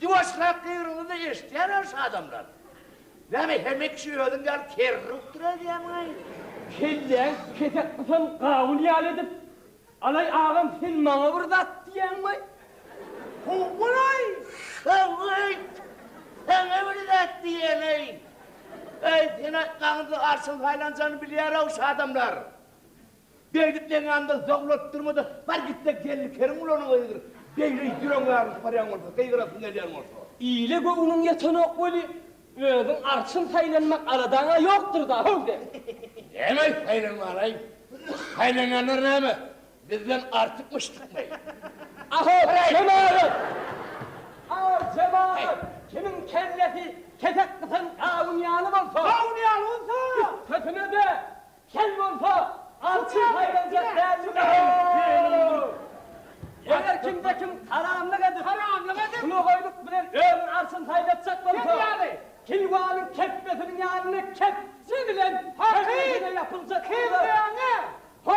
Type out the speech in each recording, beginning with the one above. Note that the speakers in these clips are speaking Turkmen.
Diwaşlap degriňizde eşitýäler şu adamlar. Näme hemek şu özüň ýaly kerri utdyr edýämiňaý? Kelläň kesek gysan gawun ýaly edip, Alaý agam sen maňa bir zat diýýäňmiaý? Howwalaý, şony aýt, saňa bir zat diýýänaý. Äý, sen aýtmagyňda arşyň saýlanjany bilýär-ow şu adamlar. Beýdip meň ýanymdan zowlat durma-da, bar git-de gelni Kerimgulynyň öýüdir. Beýle ýüregiň ýarylyp barýan bolsa, gygyrasyň gelýän bolsa. Ile göwnüň ýetenok weli, özüň arçyn saýlanmak aladaň-a ýokdur-da, how sen! Näme saýlanmaly-aý? Saýlanýanlar näme, bizden artykmyşdykmy? Aho, jemagat! Aho, jemagat! Kimiň kellesi kesek gysan gawun ýaly bolsa. Gawun ýaly bolsa! Üstesine-de, Kel bolsa, awçy saýlanjak dälmi näme? Eger kimde-kim haramlyk edip, hulugaýlyk bilen özüniň arçyny saýlatjak bolsa, keýwanyň kepbesiniň ýanyna kepje bilen kellesine ýapyljak bolsa, Ho!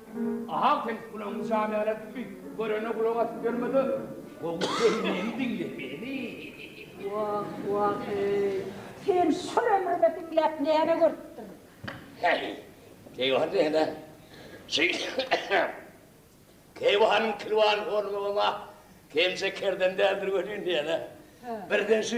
Ahaw sen gulagyňy jana älärtme, görene gulak asyp ýörme-de, gowy dynmany diňle, heni. Wah, wah-eý, sen şol ömrüňe diňläp näme görüpdiň? Häý, keýwah diýsene. Şeýdip, keýwanyň kilwany horlugam-a kemje kerden däldir welin diýene, birden şu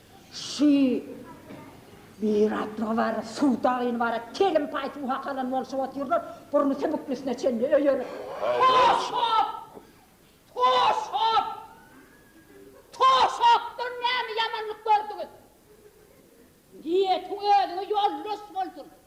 Şy bir atlygy bar, suw dagyny bar, telim paý suw hakalan bolşup otyrlar, burny sübüklisine çenli öýerip. Toşap! Toşap! Toşapdan näme ýamanlyk gördüňiz? Niýetiň özüňe ýoldaş bolsun!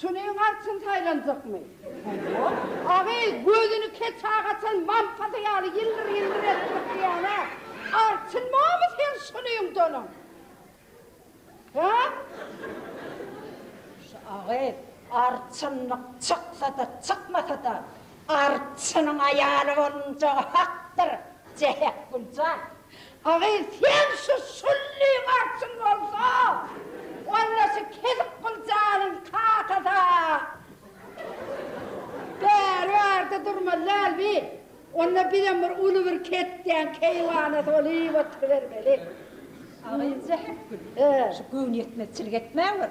Şunyň artyn saýlanjakmy? Hawa. Agy, gözüni keçag açan mamsady ýaly ýyldyr-ýyldyr edip gysyýan-a. Artynmamy seň şunyň donuň? Hä? Şu agy, artynlyk çyksa-da, çykmasa-da, arçynyň aýaly bolunjagy hakdyr, Jähek Güljan. Agyz sen şu şullyň artsun bolsa onda şu kezik gyljanyň kakasy bäri barda durmaly däl bi onda bizem bir uly bir ketýän keýwana sol iýip oturybermeli. Agyz zähep gül şu göwnüýetmezçilik etmäwir.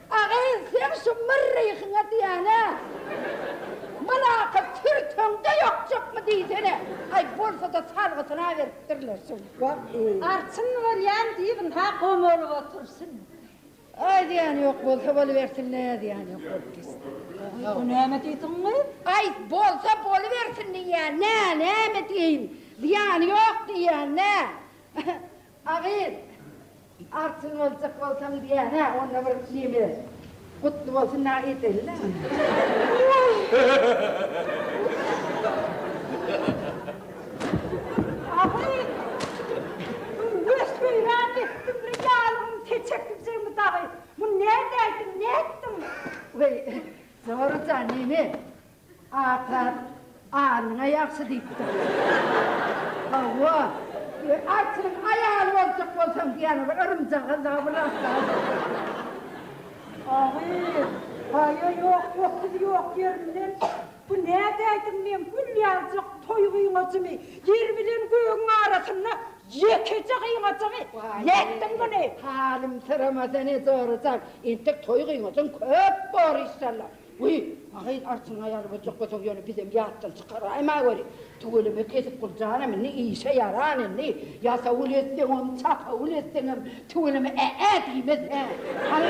Agyz sen şu myrryhyňa diýäne mylakat sürteňde ýokjakmy diýsene. Aý bolsada salgysyna beripdirler şol wagty. Arçyn bolýan diý ynha gom bolup otursyn. Aý diýýän ýok bolsa bolubersin ne diýýän ýok bolup gitsin. Aý näme diýdiň gyz. Aý bolsa bolubersin diýýän nä näme diýeýin zyýany ýok diýýän nä. Agyz. Altyn boljak bolsaň diýýän-ä onda bir neme gutly bolsun nä edeýinä. Ahyry ösübem etdim bir ýalygym keçeklijigimi dagy. Muny nädäýdiň, nätdiň? Weý, Zora jan, neme? Atar, alnyňa ýagşy diýipdir. Hawa, arçnyň aýaly boljak bolsaň diýýän ol yrymjagaz dagy bir zatlar. Agyr, paýa ýok, otuzy ýok ýerinden, bu nädäýdim men gül ýaljak toý gyňajymy, ýer bilen gögüň arasynda ýekeje gyňajygy nätdim muny. Halymsyrama sen ejorajak, entek toý gyňajyň köp bor işşallah. Guý, mahaýyl artyňa ýarybojak bolsaň, ýöne bizem ýatdan çykaraýma göri. Tüweleme kesip gurjanam indi, işe ýaran indi. Ýasawul etseňem, çapawul etseňem tüweleme ä-ä diýmez, hä? Hany.